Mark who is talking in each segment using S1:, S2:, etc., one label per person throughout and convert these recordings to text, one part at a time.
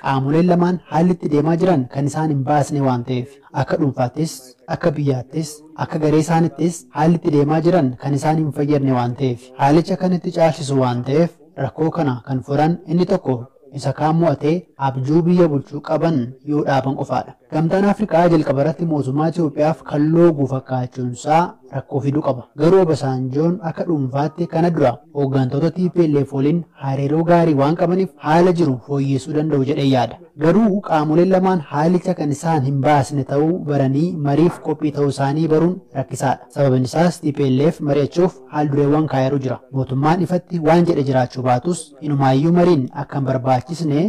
S1: Qaamoleen lamaan haalli itti deemaa jiran kan isaan hin baasne waan ta'eef, akka dhuunfaattis, akka biyyaattis, akka garee isaanittis haalli itti deemaa jiran kan isaan hin fayyadne waan ta'eef, haalicha kan itti caalsisu waan ta'eef rakkoo kana kan furan inni tokko isa kaan mo'atee abjuu biyya bulchuu qaban yoo dhaaban qofaadha. Gamtaan Afrikaa jalqabarratti mootummaa Itoophiyaaf kan loogu fakkaachuunsaa rakkoo fidu qaba. Garuu Obasaanjoon akka dhuunfaatti kana dura hooggantoota tplf waliin hariiroo gaarii waan qabaniif haala jiru fooyyessuu danda'u jedheen yaada. Garuu qaamoleen lamaan haalicha kan isaan hin baasne ta'uu baranii mariif qophii ta'uusaanii baruun rakkisaadha. Sababinsaas tplf mari'achuuf haaldureewwan kaa'eeru jira. Mootummaan ifatti waan jedhe jiraachuu baatus inumaayyuu mariin akka hin barbaachisne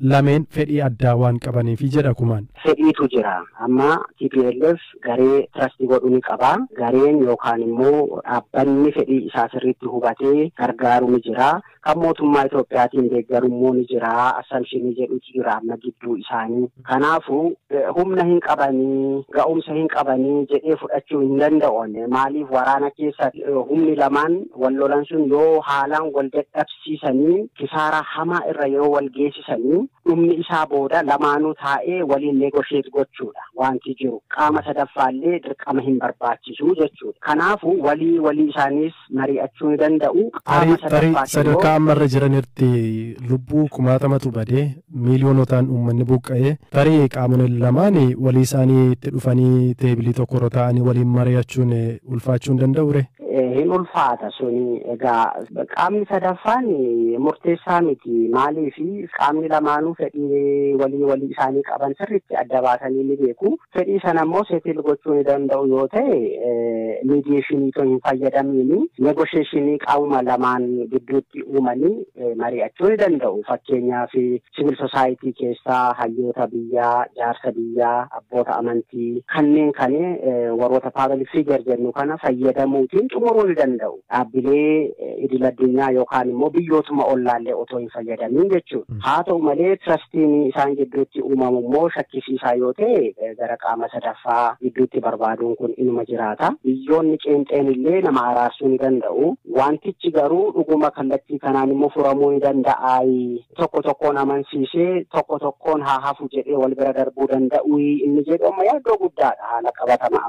S2: lameen fedhii addaa waan qabaniifi jedha Kumaan. Fedhiitu jira.
S3: Amma tplf garee trust godhu ni qaba. Gareen yookaan immoo dhaabbanni fedhii isaa sirriitti hubatee gargaaru ni jira. Kan mootummaa Itoophiyaatiin deeggaru immoo ni jira. Assumption jedhutu jira amma gidduu isaanii. Kanaafuu humna hin qabanii, ga'umsa hin qabanii jedhee fudhachuu hin danda'u. Maaliif waraana keessa humni lamaan wal lolan sun yoo haalaan wal dadhabsiisan dhabsiisanii kisaaraa hamaa irra yoo wal geesisanii dhumni isaa booda lamaanuu taa'ee waliin negotiate gochuudha waanti jiru. Qaama sadaffaallee dirqama hin barbaachisu jechuudha. Kanaafu walii walii isaaniis marii'achuu ni danda'u. Qaama Tarii tarii sadaffaatiroo sadarkaa
S2: amma irra jiran irratti lubbuu kumaatamatu badee miiliyoonotaan uummanni buqqa'ee tarii qaamoleen lamaan walii isaanii itti dhufanii teebilii tokko irra taa'anii waliin mari'achuun ulfaachuu hin danda'ure? Hin ulfaata
S3: suni egaa qaamni sadaffaan murteessaa miti maaliif qaamni lamaanuu fedhii walii walii isaanii qaban sirriitti adda baasanii ni beeku. Fedhii sana immoo settle gochuu ni danda'u yoo ta'e mediation itoo hin fayyadamiin negotiation qaamuma lamaan gidduutti uumanii mari'achuu ni danda'u. Fakkeenyaaf civil society keessaa hayyoota biyyaa, jaarsa biyyaa, abboota amantii kanneen kan warroota public figure jennu kana fayyadamuutiin xumuruu ni danda'u. dhaabbilee idil addunyaa yookaan immoo biyyootuma ollaallee otoo hin fayyadamin jechuudha. Haa ta'u malee tirastiin isaan gidduutti uumamu immoo shakkisiisaa yoo ta'e gara qaama sadaffaa gidduutti barbaaduun kun inuma jiraata. Biyyoonni qeenxeen illee nama araarsuu ni danda'u. Wantichi garuu dhuguma kallattii kanaan immoo furamuu ni danda'a. Tokko tokkoon amansiisee tokko tokkoon haa hafu jedhee wal bira darbuu danda'u inni jedhu amma yaaddoo guddaadha haala qabatamaa.